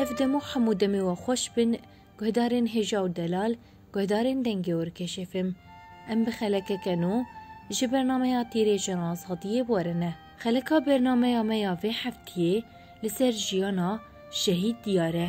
Ev demo hemû demê we xweş bin guhdarên hêja û delal, guhdarên dengê Orkeşê fm. Em bi xelekeke nû ji bernameya Tîrêjena Azadiyê werine. Xeleka bernameya me ya vê heftiyê li ser jiyana Şehîd Diyar e.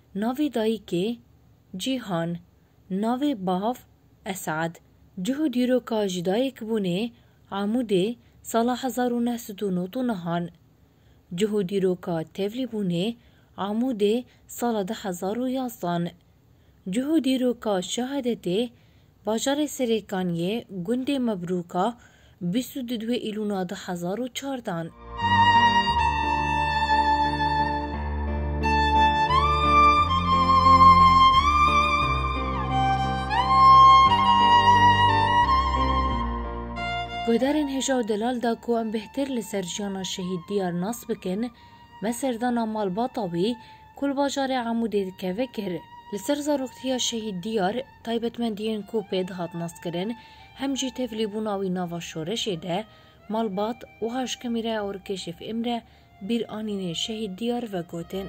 navê dayikê, Cîhan, navê bav, Esad, cih û dîroka ji dayikbûnê, Amûdê, sala hezar û neh sed û nod û nihan. Cih û dîroka tevlîbûnê, Amûdê, sala du hezar û yazdan. Cih û dîroka şehadetê, Bajarê Serêkaniyê, gundê Mebrûka, bîst û du Îlûna du hezar û çar dan. Guhdarên hêja û delal da ku em bêhtir li ser jiyana Şehîd Diyar nas bikin, me serdana malbata wî ku li bajarê Amûdê dikeve kir. Li ser zaroktiya Şehîd Diyar, taybetmendiyên ku pê dihat naskirin hem jî tevlîbûna wî nava şoreşê de, malbat wiha ji Kamîraya Orikêşif Îmre bîranînê şehîd Diyar ve gotin.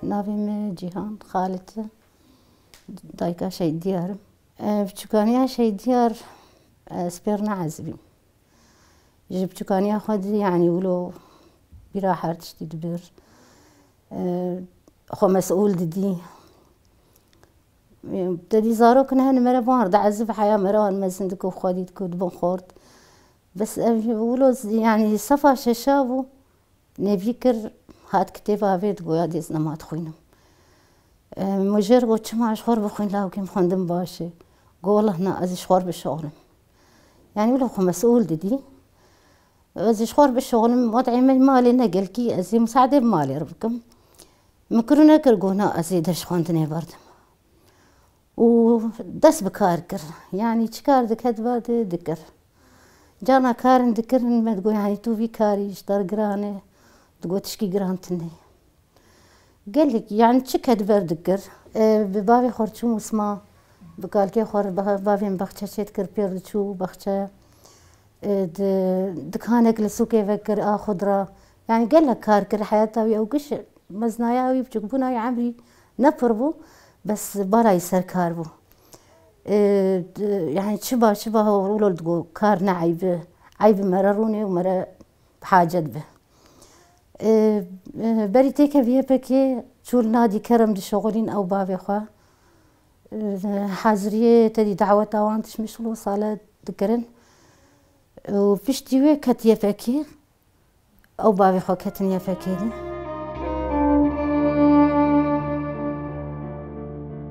Navê me Cîhan Xalit e. Dayika Şehîd Diyar im. Biçûkaniya Şehîd Diyar spêrna ez bîm. Ji biçûkaniya xwe di yanî wilo bîra her tiştî dibir. Xwe mesûl didî. Te dî zarok ne hene mere wan di ezib heya me re wan mezin di ku xwe dît ku dibin xort. Bes ev wilo yanî sefa şeşa bû nêvî kir hat kitêba vê di goya dê ez nema dixwînim. Mijêr got çima ji xwe re bixwîn lawikî min xwendin baş e. Got wallahna ez ji xwe re bişanim. Yani wilo xwe mesûl didî. Ez ji xwe re bişoxnim wadeyê me malê ne gelkî ez ê miseadê bi malê re bikim. Min kir û nekir got na ez ê ders xwendinê berdim. Û dest bi kar kir. Yanî çi kar diket ba dê dikir. Carna karin dikirin me digot yanî tu vî karî ji te re giran e. Digot tişkî giran tune ye. Gelek yani çi ke di ber dikir. Bi bavê xwe re çûm û sima bi kalkê xwe re bavê min baxçe çê dikir pêr diçû baxçe di dikanek li sûkê vekir a xudra yani gelek kar kir heyata wî ew giş meznaya wî biçûkbûna wî emrî ne pir bû bes bala wî ser kar bû yani çiba çiba hewrola li digot kar ne eyb e eyb mere rûnê û mere bi hacet be. Berî têkevî YPKê Çûl Nadî Kerem dişoxulîn ew bavê xwe. Haziriyê tedî daweta wan tişt mêşxul û sale dikirin. Û piştî wê ket YPKê. Ew bavê xwe ketin YPKê de.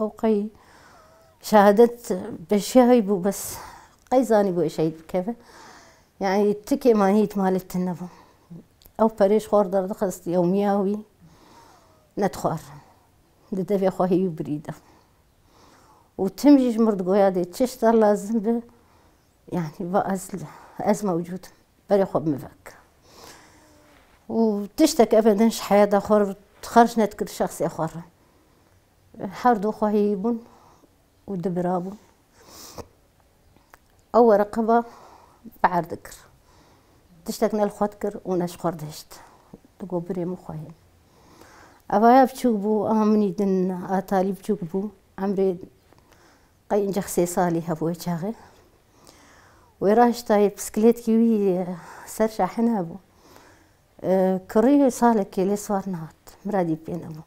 Ew qey şehadet peşiya wî bû bes qey zanîbû ez şehîd bikevim. Yanî tikê ma hît malê te nebû. Ew perê ji xwe derdixist yewmiya wî ne dixwar. Di devê xwe heyî û birî de. Û tim jî ji mir digoya dê çi şta lazim be yanî va ez ez mewcûd im. Berê xwe bi min ve bike. Û tiştek ebeden ji heyata xwe re xerc nedikir şexsê xwe re. Her du xwehî bûn û du bira bûn. Ew wereqeba bi erd dikir. Tiştek ne li xwe dikir û ne ji xwe dihişt. Di got birê min xwehî. Evaya biçûk bû, ewa minî din a talî biçûk bû. Emrê qey incex sê salî hebû wê çaxê. Wê rahiştayê piskilêtkî wî ser şahin hebû. Kirîyê salekê lê sar nehat, miradî pê nebû.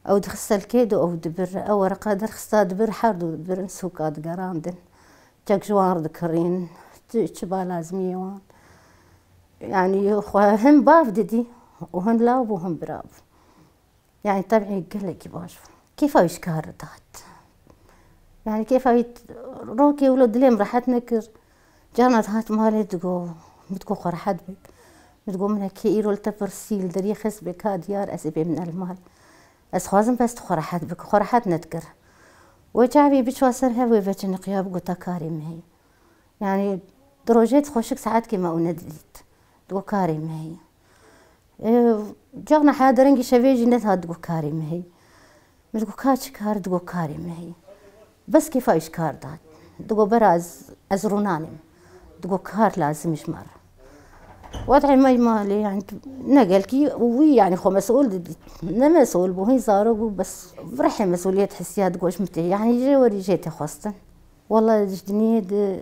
Ew dixiste li kê de ew dibir re. Ew wereqa derxista dibir, her du dibir in sûka digerandin. Çek ji wan re dikirîn, çi ba lazimiyê wan. Yanî xwe hin bav didî û hin lav bû, hin bira bû. Yanî tevî gelekî baş bû. Kêfa wî ji kar re dihat. Yanî kêfa wî rokê wilo dilê min rehet nekir. Carna dihat malê digo min digo xwe rehet bik. Min digo min heke îro li te pirsî li deriyê xist bê ka diyar ez ê bêmine li mal. Ez dixwazim bes tu xwe rehet bik. Xwe rehet nedikir. Wê çavê biçûa ser hev wê veciniqiya bigota karê me heye. Yanî di rojê dixweşik saetkê me û nedidît. Digo karê me heye. Çax na heya derengî şevê jî net hat guhkarê min hî. Min ji got ka çi kar di got karê min hî. Bes kêfa wî ji kar dat. Di got bera ez ez rûnanê me. Di got kar lazim e ji me re. Wed'ê me ma lê yanî tu ne gelkî û wî yanî xwe mesul didît. Ne mesul bû hîn zarok bû bes rihê mesuliyet hisiya di got ji min tê yanî jê werî jê tê xwestin. Wala ji diniyê di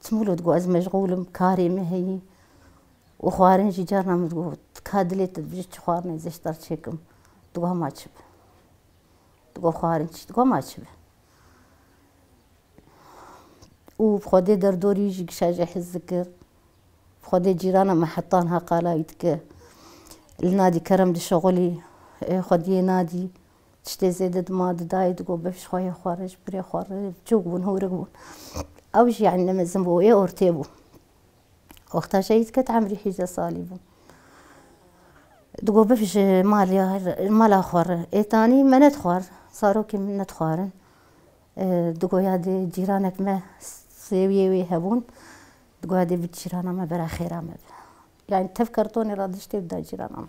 Çi min got ez meşgûl im, karê min heye û xwarin jî carna min digot ka dilê te dije çi xwarinê ez ê ji te re çêkim. Digot ma çi be. Digot xwarin çi? Digot ma çi be. Û bi xwedê derdorî jî kişa jê hez dikir. Bi xwedê cîrana min heta niha qala wî dike. Li nadî kerem dişixulî, xwediyê nadî. Tiştê zêde dima di dayê di got bifiş xwe yê xwe re ji pirê xwe re biçûk bûn hûrik bûn. Ew jî yanî ne mezin bû wê ortê bû. Wexta şehîd ket emrî hîjde salî bû. Di got bifiş ji malê mala xwe re. Ê tanî me nedixwar. Zarokên min nedixwarin. Di got ya dê cîranek me sêwiyê wê hebûn. Di got ya dê bi cîrana me bera xêra me be. Yanî tev kartonê re da ji tê bida cîrana me.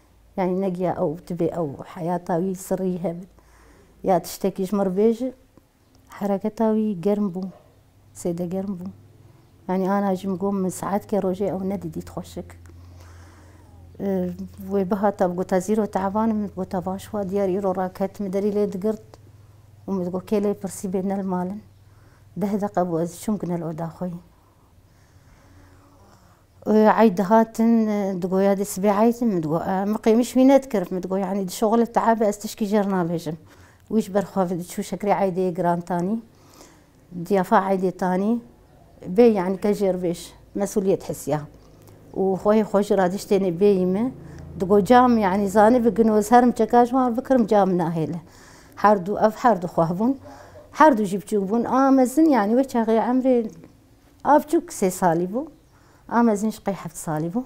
Yanî ne giya ew tibê ew heyata wî sirrî hebit ya tiştekî ji min re bêjin. Hereketa wî germ bû, zêde germ bû. Yanî ana jî min got min saetkê rojê ew nedidît xweşik. Wê bihata min gota zîro tevan im, min gota baş wa diyar îro raket min derî lê digirt û min got kê lê pirsî bê ne li mal in. Deh deqe bû ez çûm kine li oda xwe yî. Eyd dihatin digoya dê sibê eyd in min digo min qêmîş wî nedikir min digo yanî di şoxilê taabe ez tişkî jê re nabêjim. Wî ji ber xwe diçû şekerê eydê yê giran tanî diyafa eydê tanî bê yanî ke jêrbêj mesûliyet hisiya û xwe yê xwe ji radiştênê bêyî min digo ca min yanî zanibî gino ez herim çeka ji wan bikirim ca min nahêle. Her du ev her du xweh bûn her du jî biçûk bûn a mezin yanî wê çaxê emrê Avcûk sê salî bû. Amezîn ji qey heft salî bû.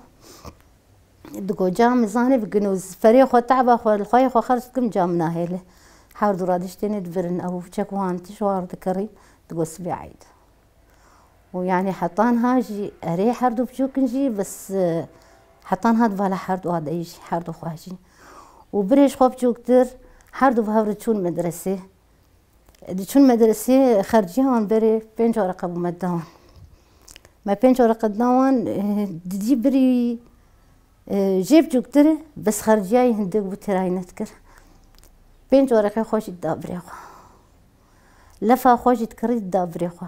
Digoca min zanê bi ginûz. Ferê xwe, te'ba xwe, li xweyê xwe xerc dikim ca min a hêle. Hewr dû radî ji tênê dibirin. Ew û çek wan tij war dikerîn. Digot sibê eyd. Û yanî heta niha jî erê her dû biçûkin jî bes heta niha di bala her dû a deyî jî her dû xwe jî. Û birê ji xwe biçûktir her dû bi hev re çûn medresê. Diçûn medreseyê xercîya wan berê pênc areqe bû me da wan. Me pênc areqe da wan didî birî jê bicûktir e bes xercîya yê hindik bû têra yê nedikir. Pênc areqeyê xwe jî dida birê xwe. Lefa xwe jî dikirî dida birê xwe.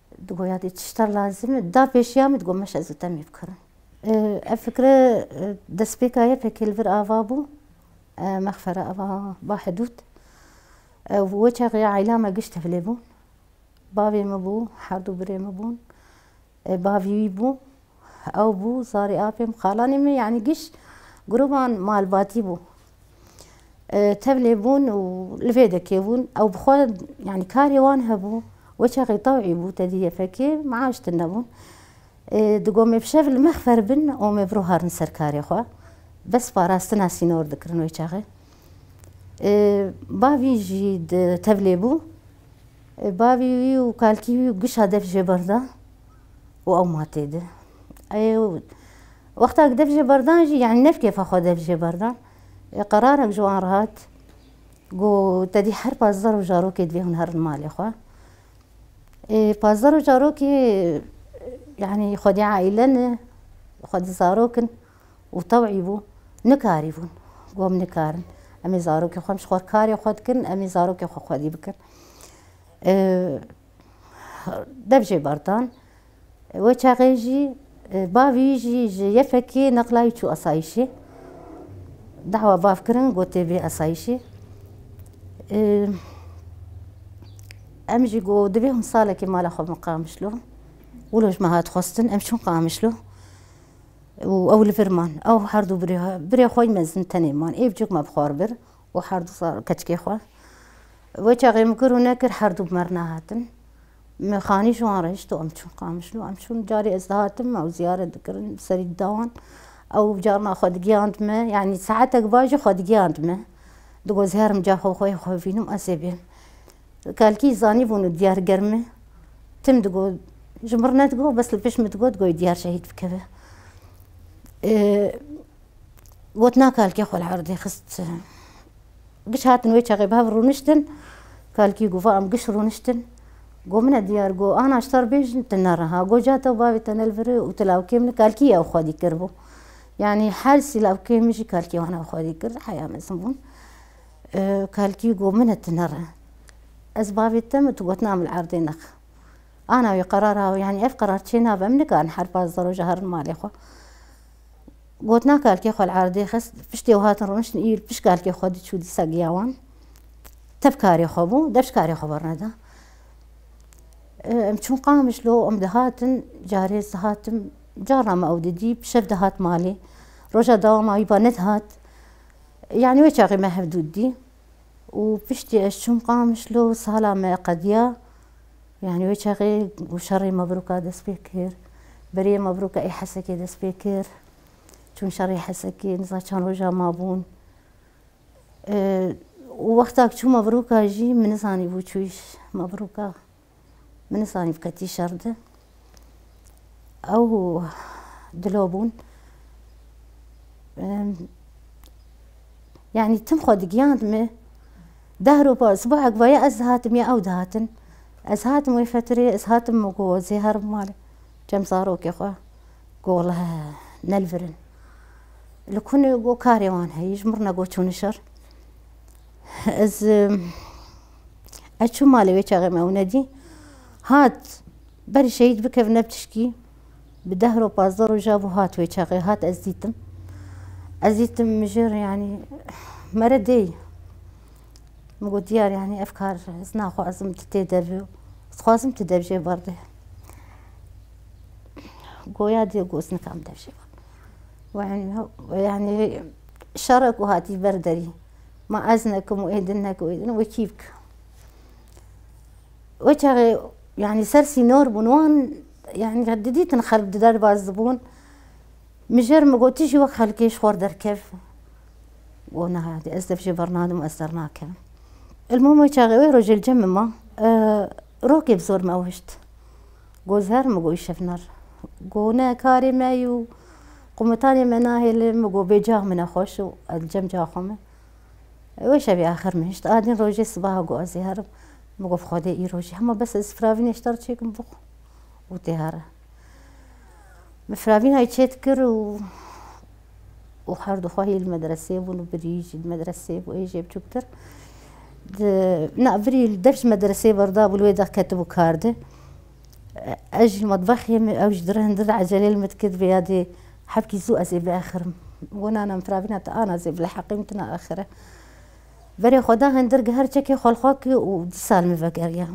Digot ya dê tişta lazim e. Da pêşiya min digot meşe ez û te mêvkirin. Ev fikre destpêka YPK'ê li vir ava bû mexfere ava Bahedûd. Ew wê çaxê ya aîla me giş tevlê bûn. Bavê min bû, herdû birê min bûn. Bavî wî bû. Ew bû zarê apê min, xalanê min yanî giş grûban malbatî bû. Tevlê bûn û li vê dekê bûn. Ew bi xwe yanî karê wan hebû. Wê çaxê tewî bû tedî yefekê maaş tune bûn. Di got me bi şev li me xfer bin û me biro harin ser karê xwe. Bes parastina sînor dikirin wê çaxê. Bavî jî di tevlê bû. Bavî wî û kalkî wî giş a dev jê berda. û ew matê di. Ê wexta ku dev jê berdan jî yanî ne bi kêfa xwe dev jê berdan. Ê qerarek ji wan re hat ku te dî her pazdeh roj zarokê divê hûn herin malê xwe. Ê pazdeh roj zarokê yanî xwe dî aîle ne, xwe dî zarok in û tewî bû nikarîbûn ku em nikarin em ê zarokên xwe em ji xwe re karê xwe dikin, em ê zarokên xwe xwedî bikin. dev jê berdan. We çaxê jî bavî jî ji yefekê neqlayî çû esayîşê. Dawa bav kirin gotê vê esayîşê. Em jî got divê hûn salekê mala xwe bin Qamişlo. Wilo ji me hat xwestin em çûn Qamişlo. û ew li vir man ew her du birê birê xwe mezin tenê man êv cûk me bi xwe bir û her du sal keçikê xwe. Wê çaxê min kir û nekir her du bi merna hatin. Min xanî ji wan re hişt û em çûn Qamişlo. Em çûn carê ez dihatim ew ziyaret dikirin bi serî dida wan. Ew carna xwe digihand me yanî saetek bar jî xwe digihand me. Di got her min caxa xwe yê xwe bînim ez ê bêm. Kelkî zanîbûn û diyar germ e. Tim digot ji min re nedigot bes li pişt min digot goy diyar şehîd bikeve. Gotina Kalkê xwe li erdê xist. Giş hatin wê çaxê bi hev rûniştin. Kalkî got, Va em giş rûniştin. Got, Min e diyar got, Ana ji te re bêjin tu ne reha. Got, Ca te û bavê te ne li vir e û tu lawkê min î. Kalkî ew xwedî kiribû. Yanî hersî lawkê min jî kalkê wan ew xwedî kir. Heya mezin bûn. Kalkî got, Min e tu ne re. Ez bavê te me tu gotina min li erdê nexe. Ana wê qerara yanî ev qerar çê nabe. Em nikarin her pazdeh roja herin malê xwe. Gotina kalkê xwe li erdê xist, piştê ew hatin rûniştin iyû li pişt kalkê xwe diçû dîsa giya wan. Tev karê xwe bû, dev ji karê xwe berneda. Em çûn Qamişlo, em dihatin, carê ez dihatim, carna me ew didî, bi şev dihat malê. Roja dawama wî ba nedihat. Yanî wê çaxê me hev dû didî. Û piştî ez çûm Qamişlo, sala me qediya. Yanî wê çaxê û şerê Mebrûka dest pê kir. Berê Mebrûka ê Hesekê dest pê kir. Çûn şerê Hesekê, niza çend roja mabûn. Û wexta ku çû Mebrûka jî min nizanîbû çûyî Mebrûka. Min nizanîbû ketî şer di. Ew dilo bûn. Yani tim xwe digiyand me. Deh ropa sibahek vaya ez dihatim ya ew dihatin. Ez hatim wê fetirê, ez hatim min ku zê her malê. Cem zarokê xwe ku wala nelvirin. Li kunê ku karê wan heye, ji mirna ku çûn şer. Ez ez çûm malê wê çaxê me ew nedî. Hat, berî şehîd bikev ne ptişkî. Bi deh roj pazdeh roja bû hat wê çaxê. Hat ez dîtim. Ez dîtim mijir yanî mere dêy. Min got diyar yanî ev kar ez naxwazim tu tê de bi. Ez dixwazim tu dev jê bar bê. Goya dê got ez nikam dev jê bar. Yani şere ku hatî ber derî. Ma ez nekim û êdin nekin êdin wekî bikin. Wê çaxê yanî ser sînor bûn wan yanî didîtin xelk di derbas dibûn. Mijer min got tu jî wek xelkê ji xwe derkev. Got niha ez tev jê bernadim ez dernakim. Elmûm wê çaxê wê rojê li cem min ma. Rokê bi zor me wişt. Got zer min got îşevner. Got ne karê me yû. Qomutanê me nahêle min got bêcax min e xweş û ez li cem caxa me. Wê şevê axir min hişt adîn rojê sibaha got ez zê herim. Min got xwedê îro jî hema bes ez firavîn hişta re çêkim bixwim û tê here. Min firavînayê çêdikir û û herdûxwe hê li medreseyê bûn û birî jî li medreseyê bû ê jê biçûktir. Di na birî li dev ji medreseyê berdabû li wê de ketibû kar de. Ez ji metbexê me ew ji dirihindir ecelê li min dikir divê ya dê hebkî zû ez ê biaxirim. Got nana min firavîna tu an ez ê bileheqê min tu naaxire. Berê xwe da hindir giher çekê xwelxwakê û dîsa li min vegeriya.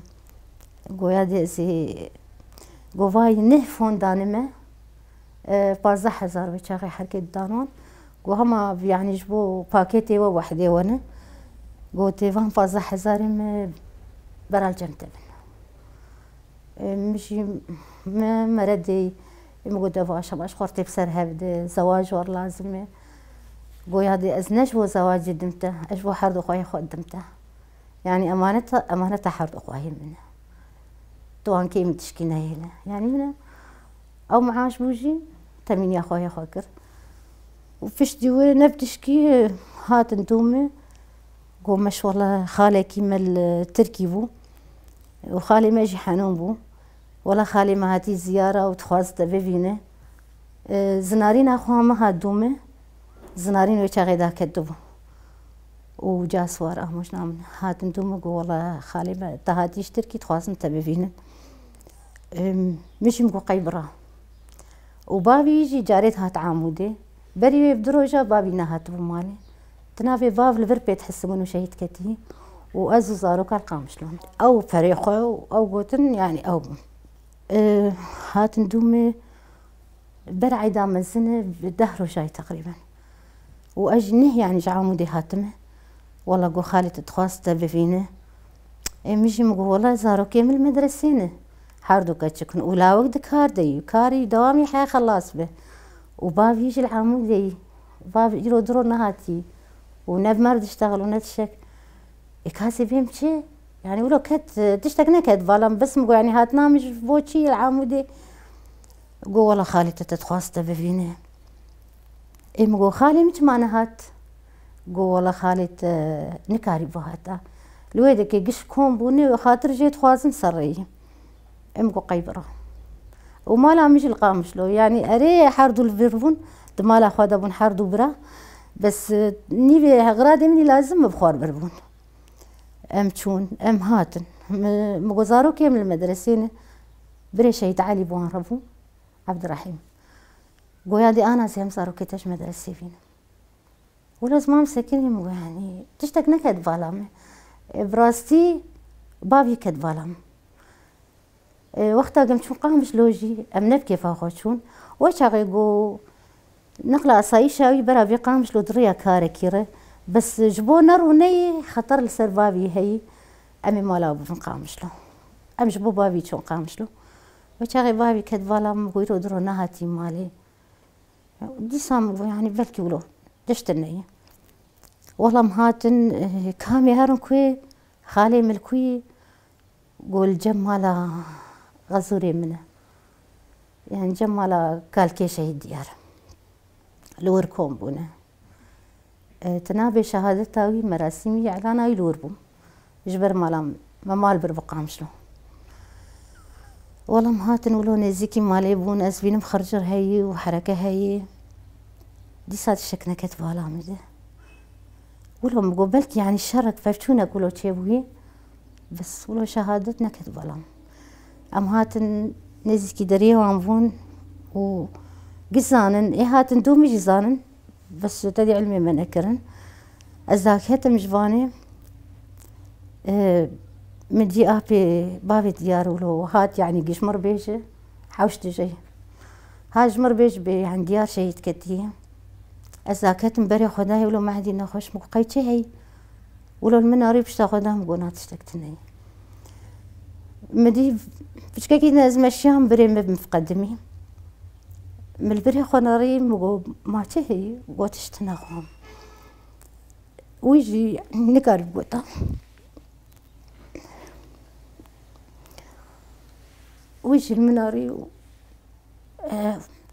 Got ya dê ez ê got vayî neh fon dane me pazdeh hezar wê çaxê herkê didan wan. Got hema yanî ji bo pakêtê we wehidê we ne. Gotê van pazdeh hezarê me beral cem te bin. Min jî me mere dê min got ev aşam aş xwartê bi ser hev de zewac war lazim e. Goya dê ez ne ji bo zewacê dim te ez ji bo herdûxwayê xwe dim te. Yanî emaneta emaneta herdûxwayê min e. Tu ankê min tişkî neyêle. Yanî min e ew miaş bû jî temîniya xwe yê xwe kir. Û piştî wê ne bi tişkî hatin domê Got maşallah xalekî me li Tirkî bû û xalê me jî henûn bû. Wala xalê me hatî ziyara û dixwaz te bibîne. Zinarîna xwe ha min hat dûme. Zinarîn wê çaxê da ketibû. Û ca siwar amûjna min e. Hatin dûme got wala xalê me te hatî ji Tirkî dixwazin te bibînin. Min jî min got qey bira. Û bavî jî carê dihat Amûdê. Berî wê du roja bavî nehatibû malê. Di navê bav li vir pê dihisimin û şehîd ketî û ez û zarokan qamişlan. Ew perê xwe û ew gotin yanî ew bûn. Hatin dûmê ber eyda mezin e bi deh rojayî teqrîben. Û ez jî neh yanî ji Amûdê hatime. Wela got xalê tu dixwaz te bivîne. Ê min jî min got wela zarokê min li medresê ne. Her du keçik in û lawik di kar de yû. Karî dewamê heye xelas be. Û bavî ji li Amûdê yî. Bav îro di ro nehatî. Û ne bi me re diştexil û ne tişek. Ê kasê bêm çi? Yanî îro ket, tiştek neket balam bes min got yanî hatina min ji bo çi li Amûdê? Got wela xalê te te dixwaz te bivîne. Ê min got xalê min çima nehat? Got wela xalê te nikarî bihata. Li wê de ke giş kom bûne wexatir jê dixwazim serreyî. Em ku qey bira. Û mala min jî li Qamişlo. Yanî erê her du li vir bûn. Di mala xwe de bûn her du bira. Bes nîvê xiradê min lazim bû bi xwe re vir bûn. Em çûn, em hatin. Min got zarokê min li medresê ne. Birê Şehîd Elî bi wan re bû. Ebdirehîm. Goya dê ana sê em zarokê te ji medresê bînin. Wilo ziman bi sekinî min got yanî tiştek neket di bala min. Bi rastî bavî ket di bala min. Wexta ke em çûn Qamiş lojî em ne bi kêfa xwe çûn. We çaxê got nexla asayîşa wî bera vê Qamiş lo di rêya karekî re bes ji bo ne rûneyê xeter li ser bavî heyî em ê mala wî bibin Qamiş lo. Em ji bo bavî çûn Qamiş lo. We çaxê bavî ket di bala min got îro di ro nehatî malê. Dîsa min got yanî belkî wilo diştin neyê. Wela min hatin kamê herin ku yê xalê min li ku yî got li cem mala Xezûrê min e. Yan cem mala Kalkê Şehîd Diyar e. Li Wirkom bûne. Di navê şehadeta wî merasîmî îlana wî li wir bû. Ji ber mala min. Me mal bir bi Qamşlo. Welam hatin wilo nêzîkî malê bûn. Ez bînim xircir heyî û hereke heyî. Dîsa tişek neket bala min de. Wilo min got belkî yanî şerek, pevçûnek wilo çêbûyî. Bes wilo şehadet neket bala min. Em hatin nêzîkî deriyê wan bûn û giş zanin ê hatin domî jî zanin bes te dê ilmê me nekirin. Ez dagihetim ji vanê min dî apê bavê diyar û lo hat yanî giş mir bê ji hewş dijeyê. Ha ji mir bê ji bê yanî diyar şehîd ketiye. Ez dagihetim berê xwedayê wilo me hindî nexweş min got qey çi heyî. Wilo li min arî pişta xwe da min got na tiştek tune ye. Min dî piçkekî din ez meşiyan birê me bi min fiqedimî. Min li birê xwe narî min got ma çi heye? Got tişt naxwam. Wî jî nikar bi gota. Wî jî li min arî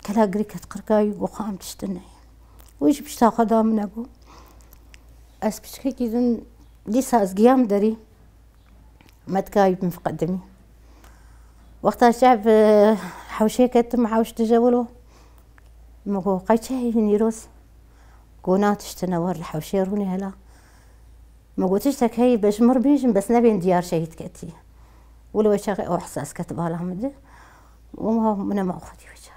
kela girî ket qirkayî û got xwe em tiştê neyê. Wî jî pişta xwe da min e got ez piçikekî din dîsa ez giyam derî me dikare bim qedimî. Wexta çav bi hewşê ketim hewş dije wilo min got qey çi heye nîroz? Got na tiştê ne war li hewşê rûnê hela. Min got tiştek heye be ji min re bêjin bes nebên diyar şehîd ketî. Wilo wê çaxê ew hesas ket bala min de. Wiha min e ma xwedî bica.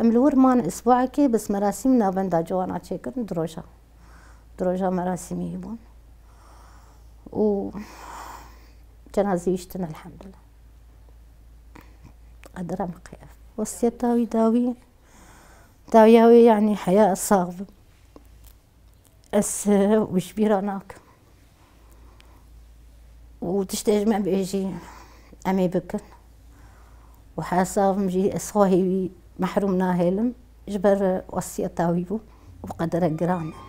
Em li wir man îsbuekê bis merasîm navenda ciwanan çêkirin di roja. Di roja merasîmî hebûn. Û cenazeyê wîştin elhemdulillah. Qedira min qey ev. Wesiyeta wî dawî, dawiya wê yanî heya ez sax bim. Ez wî ji bîr re nakim. Û tiştê ji me bêjî em ê bikin. Û hesabim jî ez xwehî wî mehrûm nahêlim ji ber wesiyeta wî bû û qederek giran e.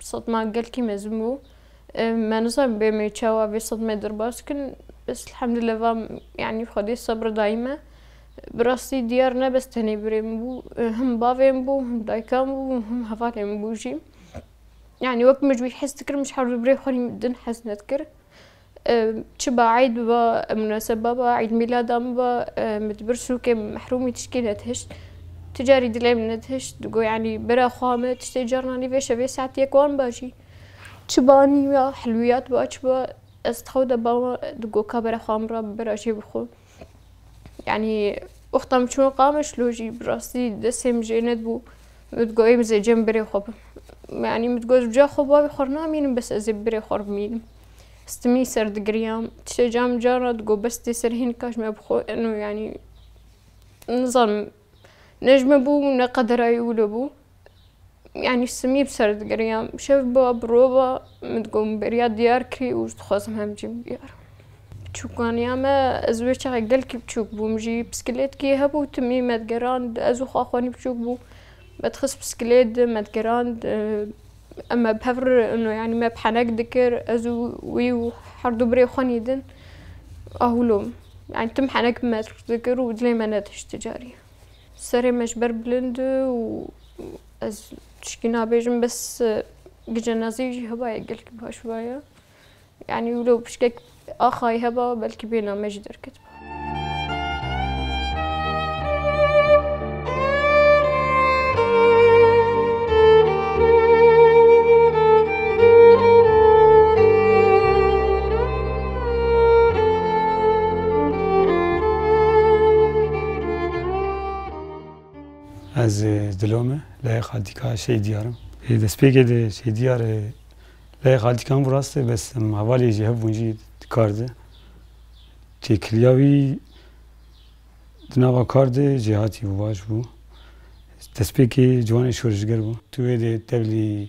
Sedma gelkî mezin bû. Me nizanim bêmê çawa vê sedmê derbas bikin. Bes elhamdülillah va yanî Xwedê sebr dayî me. Bi rastî diyar ne bes tenê birê min bû. Him bavê min bû, him dayika min bû, him hevalên min bû jî. Yanî wek min ji wî hez dikirim ji herdû birê xwe jî min din hez nedikir. Çi ba eyd biba, munaseba biba, eydmîlada min biba, min di bir sûkê min mehrûmî tişkî netihişt. Tu carî dilê min netihişt, digo yanî bira xwe me tiştê carna nî vê şevê saet yek wan ba jî. Çi ba nîya, hilwiyat ba çi ba, ez di xew de bama digo ka bira xwe min ra bibira jê bixwe. Yanî wexta min çûn qamiş lo jî bi rastî destê min jê nedibû. Min digot ê min zê cem birê xwe bim. Yanî min digot ca xwe bavê xwe namînim bes ez ê birê xwe bimînim. Stimî ser digiriyam. Tiştê ca min car hat got bes dê ser hênika ji me bi xwe eno yanî nizanim ne ji min bû ne qedera wilo bû. yanî simî bi ser digirinyan bi şev ba bi rov ba min digot min beriya diyar kirî û ez dixwazim hev bicîm bi diyar. Biçûkaniya me ez wê çaxê gelkî biçûk bûm jî piskilêtkî hebû timî me digerand ez û Xaxwanî biçûk bû me dixist piskilêt di me digerand em me bi hev re no yanî me bi henek dikir ez û wî û herdû birê xwe nîdin ahûlo yanî tim henek bi me dikir û dilê me nedişt ti carî. Serê me ji ber bilind e û ez tiştî nabêjim bes gicenazî jî heba ye gelkî baş vaye. Yanî wilo pişkek axayî heba belkî bêhna me jî derketiba. Ez dilo me leyê xaltîka şey diyar im. Ê destpêkê de şey diyar e leyê xaltîka hemû rast e bes em hevalê jî hev bûn jî di kar de. Têkiliya wî di nava kar de jêhatî bû baş bû. Destpêkê ciwanê şoreşger bû. Tu wê de tevlî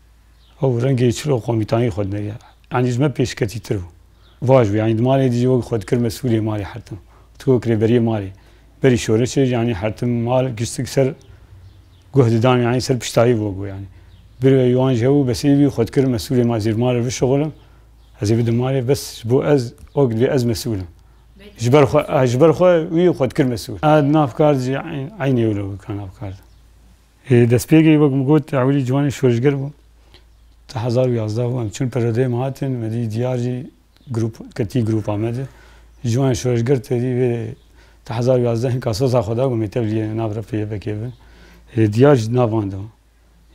Ew rengê çilo komîtanî xwe dineriya. Yanî ji me pêşketîtir bû. Vaj bû. Yanî di malê dî jî wek xwe dikir mesûlê malê Hertim. Tu wek rêberiyê malê. Berî şoreşê jî yanî Hertim mal giştik ser guh didan yanî ser piştayî bû wek bû yanî. Bir ve wan jî hebû besê bî xwe dikir mesûlê malê. Zêr malê bişuxulin ez ê bidim malê bes ji bo ez wek divê ez mesûl im. Ji ber xwe ji ber xwe wî xwe dikir mesûl. Navkar jî eynê wilo bû ka navkar. Li destpêkê wek min got Ewilî Ciwanî şoreşger bû. Di hezar û yazdeh û em çûn perrodeyê min hatin, me dît diyar jî grûp ketî grûpa me de. Ciwanê şoreşger tevî vê di hezar û yazdeh hin ka soza xwe da ku me tevlî nav re pê YPK'ê bin. Diyar jî di nav wan de bû.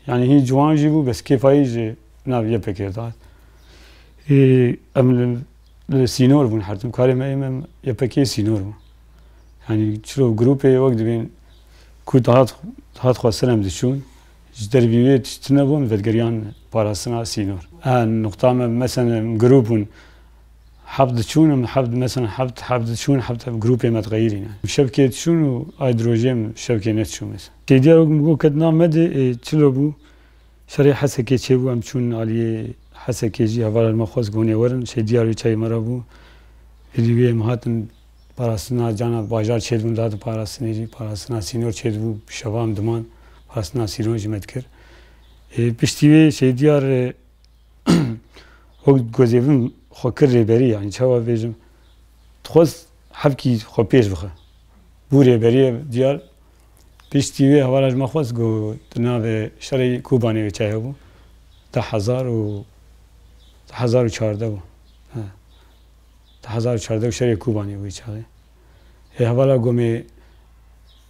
Yanî hîn ciwan jî bû bes kêfa yê ji nav YPK'ê re dihat. Em li Sînor bûn her tim. Karê me ê me YPK'ê sînor bû. Yanî çiro grûpê wek dibên ku dihat dihat xwestin em diçûn ji derbî wê tişt nebûn vedigerîyan parastina sînor. A nuqta me mesen em grûp bûn heft diçûn em heft mesen heft heft diçûn heft heft grûpê me diqeyirîne. Şevkê diçûn û ay di rojê em şevkê nediçûn mesen. Têdîya wek min got ket na me dê ê çilo bû Serê Hesekê çêbû em çûn aliyê Hesekê jî hevalên me xwest ku hûnê werin şê diyar û çayê me re bû. Êdî wê em hatin parastina cana bajar çêdibûn dihatin parastinê jî parastina sînor çêdibû bi şeva em diman parastina sîron jî me dikir. Ê piştî wê şê diyar wek gozê bin xwe kir rêberî yanî çawa bêjim dixwest hevkî xwe pêş bixe bû rêberiyê diyar. Piştî wê hevala ji me xwest ku di navê şerê Kobanê wê çay hebû di hezar û di hezar û çardeh bû he di hezar û çardeh û şerê Kobanê wê çaxê. Hê hevala gomê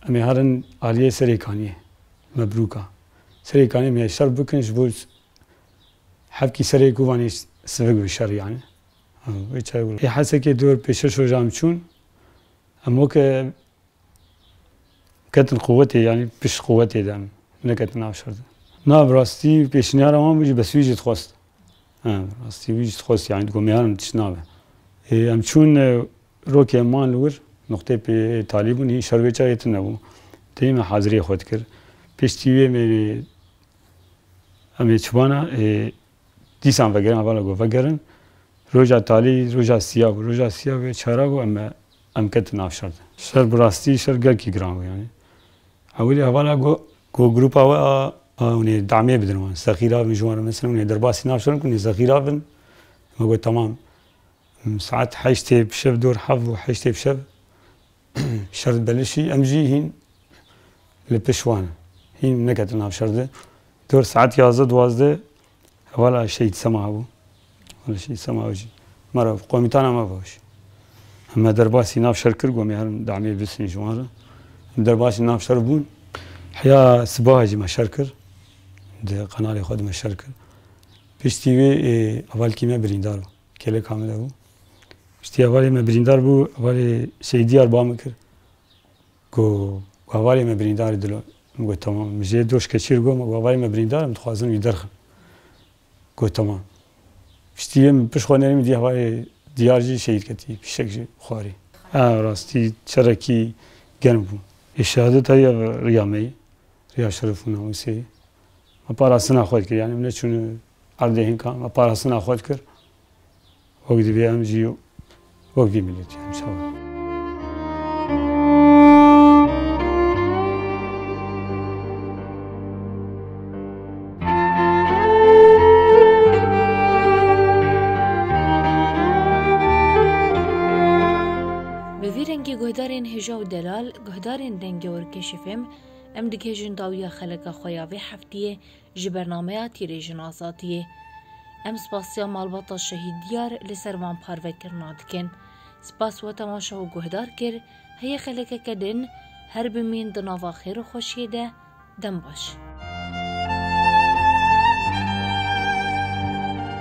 em ê herin aliyê Serê Kaniyê Mebrûka. Serê Kaniyê em ê şer bikin ji bo hevkî Serê Kobanê sivik bi şer yanî wê çay wilo. Hê hesekê dor pê şeş rojan em çûn em weke Ketin quwetê yanî pişt quwetê de em neketin nav şerdan. Na bi rastî pêşniyara wan bû jî bes wî jî dixwest. Em bi rastî wî jî dixwest yanî digot mêyaran tişt nabe. Ê em çûn rokê em man li wir nuqteyê pê talî bûn hîn şer wê çayê tune bû. Tê me haziriyê xwe dikir. Piştî wê mêrê em ê çiban a ê. Dîsan vegerin hevala ku vegerin. Roja talî roja siya bû. Roja siya wê çara bû em em ketin nav şer de. Şer bi rastî şer gelkî giran bû yanî. Ewilî hevala ku ku grûpa we a hûn ê demê bidin wan. Sexîr a bin ji wan re mesela hûn ê derbasî nav şer in ku hûn ê sexîr a bin. Me got temam. Saet heştê bi şev dor hev bû heştê bi şev. Şerd belişî em jî hîn li pişt wan hîn neketin nav şerdê. Dor saet yazdeh duwazdeh hevala Şehîd Sema hebû. Hevala Şehîd Sema ew jî me re komîtana me bû. Em me derbasî nav şer kir gomê herin demê bisin ji wan re. Em derbasî nav şer bûn. Heya sibaha jî me şer kir. Di qenarê xwe de me şer kir. Piştî wê êê hevalkî me birîndar bû. Kêlê kamile bû. Piştî hevalê me birîndar bû, hevalê Seyîd Dîyar ba min kir. Got hevalê me birîndar e dilo. Min got temam. Min jê doşke çêr got min got hevalê me birîndar e min dixwazin wî derxin. Got temam. Piştî yê min pişt xwe nerî min dîya hevalê Dîyar jî şehîd ketî fîşek ji xwarî. A rastî çerekî germ bû. Şehadeta ya Riya me yê. Riya Şeref û Namûsê. me parastina xwe dikir yanî em neçûn erdê hinka me parastina xwe dikir wek divê em jî wek vî miletî em çawa Bi vî rengî guhdarên hêja û delal, guhdarên rengewr keşifêm, Em dikêjin dawiya xeleka xwe ya vê heftiyê ji bernameya Tîrêjin Azadiyê. Em spasiya malbata Şehîd Diyar li ser van parvekirina dikin. Spas we temaşe û guhdar kir, heye xelekeke din, her bimîn di nava xêr û xweşiyê de, dem baş.